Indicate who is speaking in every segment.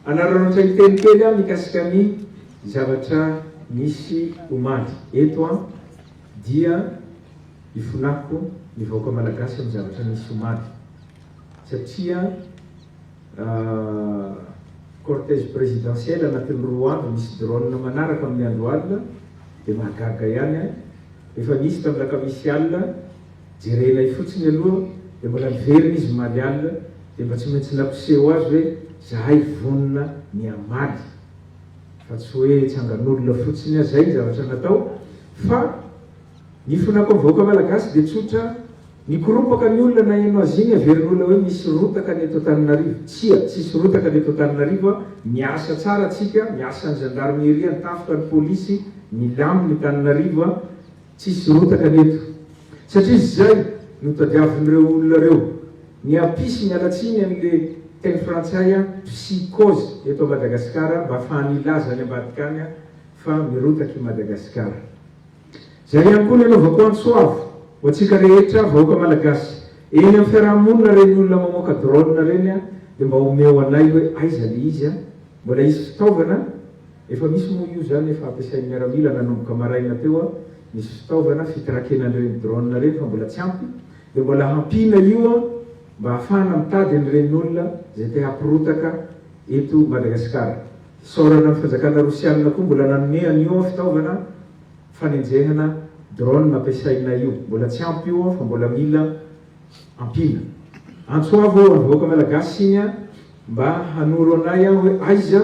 Speaker 1: Hanararaotra hiteny kely aho mikasika ny zavatra nisy omaly eto an! dia ifonako ny vahoaka malagasy amin'ny zavatra nisy omaly satria cortège présidentiel anatin'ny roa andro misy drone manaraka amin'ny andro alina dia mahagaga ihany an! efa nisy tamin'ny alakamisy alina Jerenay fotsiny aloha dia mbola miverina izy omaly alina dia mba tsy maintsy nampiseho azy hoe zahay vonona ny hamaly fa tsy hoe tsangan'olona fotsiny aho zay ny zavatra natao fa ny fonako amin'ny vahoaka malagasy dia tsotra mikoropaka ny olona naheno azy iny averin'olona hoe misy rotaka ny eto Antananarivo tsia tsisy rotaka ny eto Antananarivo a miasa tsara tsika miasa ny gendarmerie ny tafika ny polisy milamina i Tananarivo a Tsisy rotaka ny eto, satria izay no tadiavin'ireo olona ireo. Ny api sy miala tsiny an'le teny frantsay an psi koz eto Madagasikara mba afahany hilaza any ambadika any fa mirotaka i Madagasikara. Izay ihany koa no anaovako antso avo ho antsika rehetra vahoaka malagasy eny amin'ny fiaraha-monina ireny olona mamoaka drone ireny dia mba omeo anay hoe aiza le izy an? Mbola hisy fitaovana? Efa misy moa io zany efa ampiasain'ny miaramila nanomboka maraina teo an, misy fitaovana fitrakena an'ireny drone ireny fa mbola tsy ampy dia mbola hampiana io an mba hahafahana mitady an'ireny olona izay te hampirotaka eto Madagasikara. Hisaorana ny fanjakana rosianina koa mbola nanome an'io an fitaovana fanenjehana drone ampiasainay io. Mbola tsy ampy io an fa mbola mila ampiana. Antso avo ho an'ny vahoaka malagasy siny an Mba hanoro anay aho hoe aiza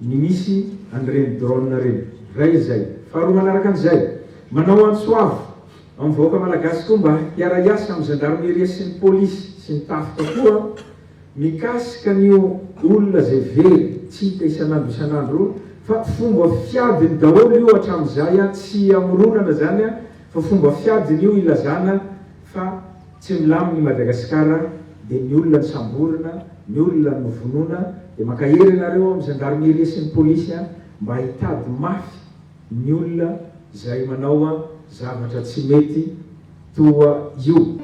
Speaker 1: ny misy an'ireny drone ireny. Iray izay. Faharoa manaraka an'izay, manao antso avo amin'ny vahoaka malagasy koa mba hiara-hiasa amin'ny Zandarmeria sy ny Polisy sy ny Tafika koa mikasika an'io olona izay very tsy hita isan'andro isan'andro fa fomba fiadiny daholo io hatramin'izay tsy hamoronana izany fa fomba fiadiny io ilazana Fa tsy milamina i Madagasikara dia ny olona no samborina, ny olona no vonoina, dia mankahery ianareo amin'ny Gendarmerie sy ny Polisy mba hitady mafy ny olona izay manao zavatra tsy mety toa io.